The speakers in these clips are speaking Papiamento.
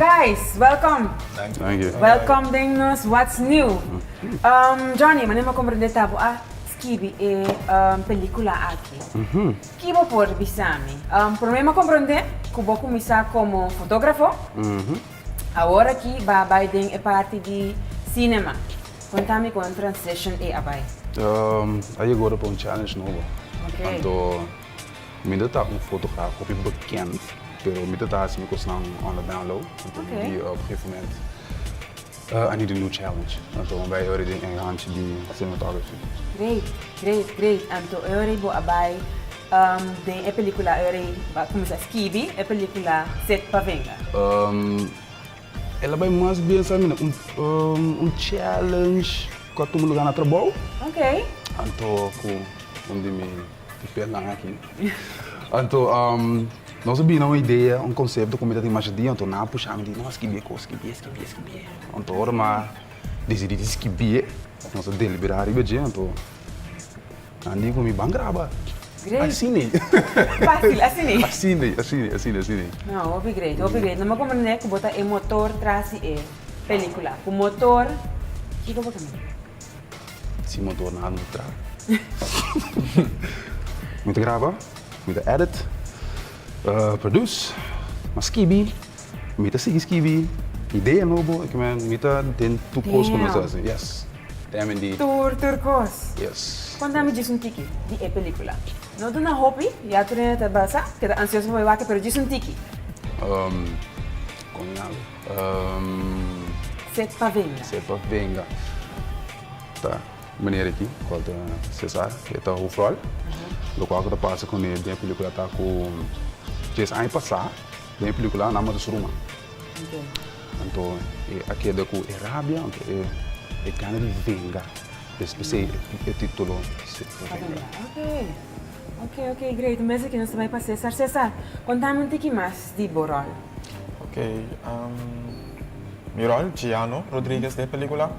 Guys, welkom! Thank you. Welkom den nos What's New. Johnny, manera mi a komprendé ta bo a skibi e pelikula aki. Ki bo por bisa mi? Prome mi a komprendé ku bo kuminsá komo fotógrafo, awor aki bo a bai den e parti di sínema. Konta mi kon transition ei a bai? A yegá ora pa un challenge nobo, anto. Mi ta ta un fotograf hopi bekend, pero mi ta ta hasi mi kosnan on the down low. Anto mi di op gegeven moment, I need a new challenge. Anto mi bai ora den e ranchi di cinematography. Great, great, great. Anto e ora ei bo a bai den e pelikula e ora ei bo a kuminsá skibi e pelikula Set pa venga? El a bai mas bien sa mi na un challenge ku a tuma lugar na trabou. Anto ku un di mi. E pernan aki. Anto, nos a bini na un idea, un konsepto ku mi ta tin masha di. Anto nan a pusha mi di, no, skibié kos, skibié, skibié, skibié. Anto ora mi a disidí di skibié, nos a deliberá riba dje, anto nan a di ku mi, Ban graba. Great. Asina ei. Fásil, asina ei. Asina ei, asina ei, asina ei, asina ei. No, hopi great, hopi great. No me komprendé ku bo ta e motor tras di e pelíkula. Ku motor, kiko bo ta mira? Si motor na anda traha. Mi ta graba, mi ta edit, produce, mas skibi, mi ta sigui skibi idea nobo, eke men, mi ta den tur kos ku nos ta hasi, yes. Teme di. Tur, tur kos. Yes. Konta mi djis un tiki di e pelikula. No duna hopi, ya Trina ta basa, keda ansioso pa bai wak, pero djis un tiki. Kon mi habla. Set pa venga. Set pa venga. Ta meneer aki, cual ta Cesar, e ta hoofdrol. Locual cu ta pasa cu e den e pelicula ta cu Chase aña pasa den e pelicula nan a mata su ruma. Anto e a keda cu e rabia, anto e gana di venga. P'esei e titulo Set pa venga. Ok, ok, great. Un bes aki nos ta bai pa Cesar. Cesar, contami un tiki mas di bo rol. Ok, ehm, mi rol, Giano Rodriguez, dë pelicula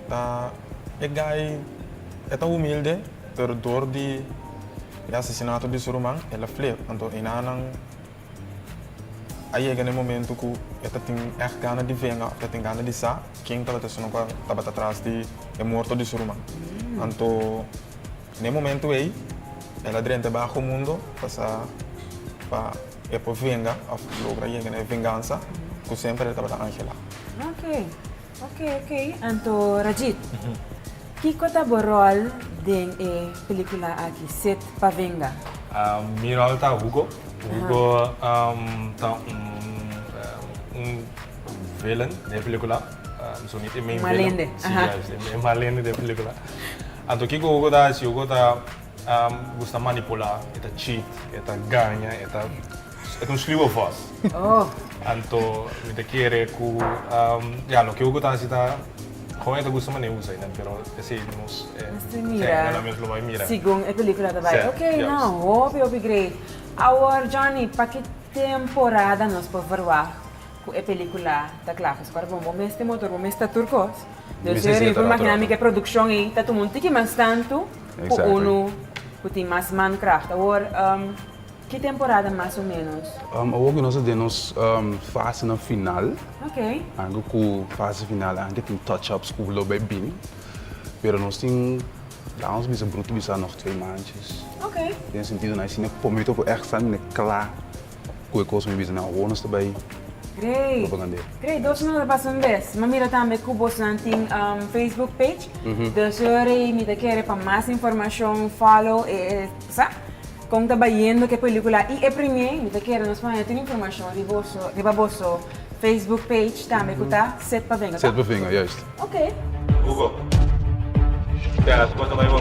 ta e guy, e ta humilde, pero dor di e asesinato di su ruman el a flip. Anto enanan a yega n'e momento ku e ta tin ègt gana di venga of ta tin gana di sa ken tabata esun'on ku tabata tras di e morto di su ruman. Anto. Na e momentu ei, el a drenta baho mundo pa sa pa e por venga of logra yega na e vengansa ku semper el tabata anhelá. Ok. Ok, ok. Anto, Rajit, kiko ta bo ròl den e pelikula aki, Set pa venga? Mi ròl ta Hugo. Hugo ta un un vilen den e pelikula. Malende. Si, juist. E malende den pelikula. Anto kiko Hugo ta hasi? Hugo ta gusta manipulá, e ta cheat, e ta gaña, e ta e ta un sluwe vos. Oh. Anto mi ta kere ku, ya, loke Hugo ta hasi ta kon e ta gusta manera usa nan, pero esei nos e. Nos tin mira. Sí, nan mes lo bai mira. Segun e pelikula ta bai. Oke, nau hopi hopi great. Awor, Johnny, pa ki temporada nos por verwagt? Cu e pelicula ta cla pues cuando bo mes tin motor bo mes ta tur cos dus eur y bo por imagina mi cu e produccion ey ta tuma un tiki mas tanto cu uno cu tin mas man kracht awor ki temporada mas o menos. Awor cu nos ta den nos fase na final anke cu fase final anke tin touch ups cu lo bay bini pero nos tin la nos bisa bruto bisa nog twee manchas den sentido na asina cu por mi tok cu extra mi na cla Cu e cos mi bisa nan awor nos ta bay Grey Grey dos mi no ta pasa un bes mi mira tambe cu bosnan tin Facebook page dus yoari mi ta kere pa mas informacion follow e sa con ta bayendo cu e pelicula y e premier mi ta kere nos por haña tur informacion riba boso. Facebook page tambe ku ta set pa venga, ta? Set pa venga, juist. Oké. Hugo. Spera, su kos ta bai bo.